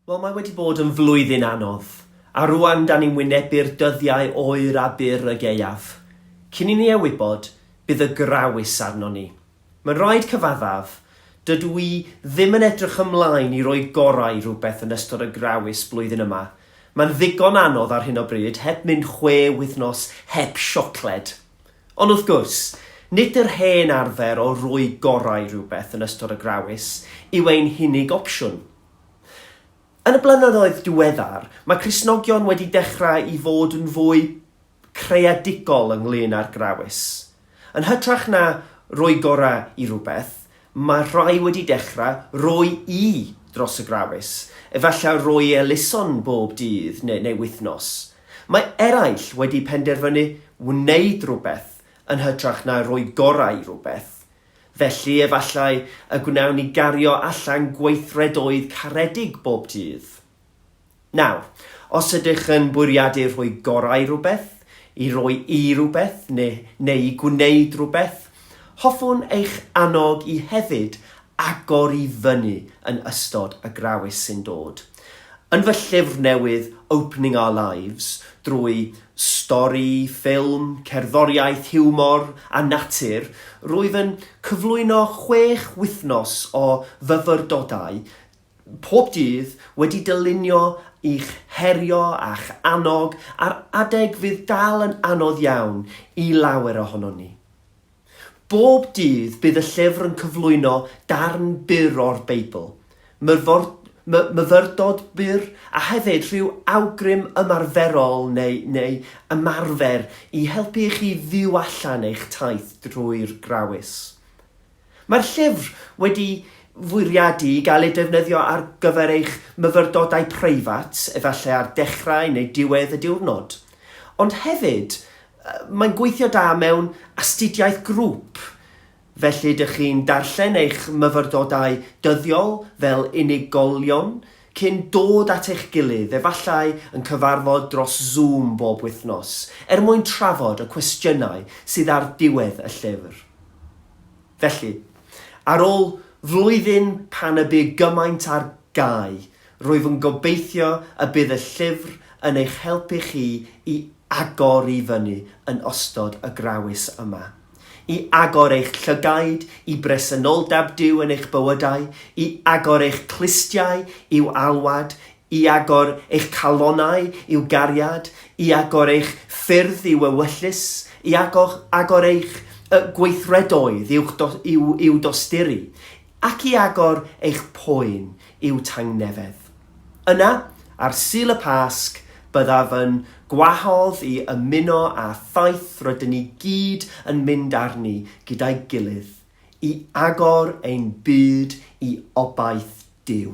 Wel, mae wedi bod yn flwyddyn anodd, a rŵan dan ni'n wynebu'r dyddiau oer a byr y gaeaf. Cyn i ni e wybod, bydd y grawys arnon ni. Mae'n rhaid cyfaddaf, dydw i ddim yn edrych ymlaen i roi gorau i rywbeth yn ystod y grawys blwyddyn yma. Mae'n ddigon anodd ar hyn o bryd, heb mynd chwe wythnos heb siocled. Ond wrth gwrs, nid yr hen arfer o roi gorau rhywbeth yn ystod y Grawys yw ein hunig opsiwn. Yn y blynyddoedd diweddar, mae Cristnogion wedi dechrau i fod yn fwy creadigol ynglŷn â'r Grawys. Yn hytrach na roi gorau i rywbeth, Mae rhai wedi dechrau roi i dros y Grawys, efallai roi elusen bob dydd neu neu wythnos. Mae eraill wedi penderfynu wneud rhywbeth yn hytrach na rhoi gorau i rhywbeth. Felly efallai y gwnawn ni gario allan gweithredoedd caredig bob dydd. Nawr, os ydych yn bwriadu rhoi gorau i rywbeth, i roi i rywbeth neu, neu i gwneud rhywbeth, hoffwn eich annog i hefyd agor i fyny yn ystod y Grawys sy'n dod. Yn fy llyfr newydd Opening Our Lives, drwy stori, ffilm, cerddoriaeth, hiwmor a natur, rwyf yn cyflwyno chwech wythnos o fyfyrdodau pob dydd, wedi dylunio i'ch herio a'ch annog ar adeg fydd dal yn anodd iawn i lawer ohonon ni. Bob dydd bydd y llyfr yn cyflwyno darn byr o'r Beibl, myfor, my, myfyrdod byr, a hefyd rhyw awgrym ymarferol neu, neu ymarfer i helpu i chi fyw allan eich taith drwy'r Grawys. Mae'r llyfr wedi fwriadu i gael ei defnyddio ar gyfer eich myfyrdodau preifat, efallai ar dechrau neu diwedd y diwrnod. Ond hefyd, mae'n gweithio da mewn astudiaeth grŵp, felly ydych chi'n darllen eich myfyrdodau dyddiol fel unigolion cyn dod at eich gilydd, efallai yn cyfarfod dros Zoom bob wythnos, er mwyn trafod y cwestiynau sydd ar ddiwedd y llyfr. Felly, ar ôl flwyddyn pan y bu gymaint ar gau, rwyf yn gobeithio y bydd y llyfr yn eich helpu chi i agor i fyny yn ystod y Grawys yma. I agor eich llygaid i bresenoldeb Duw yn eich bywydau, i agor eich clustiau i'w alwad, I agor eich calonnau i'w gariad, i agor eich ffyrdd i'w ewyllys, i agor, agor eich y, gweithredoedd i'w, i'w, i'w dosturi, ac i agor eich poen i'w tangnefedd. Yna, ar Sul y Pasg, byddaf yn gwahodd i ymuno â thaith rydyn ni gyd yn mynd arni gyda'i gilydd, i agor ein byd i obaith Duw.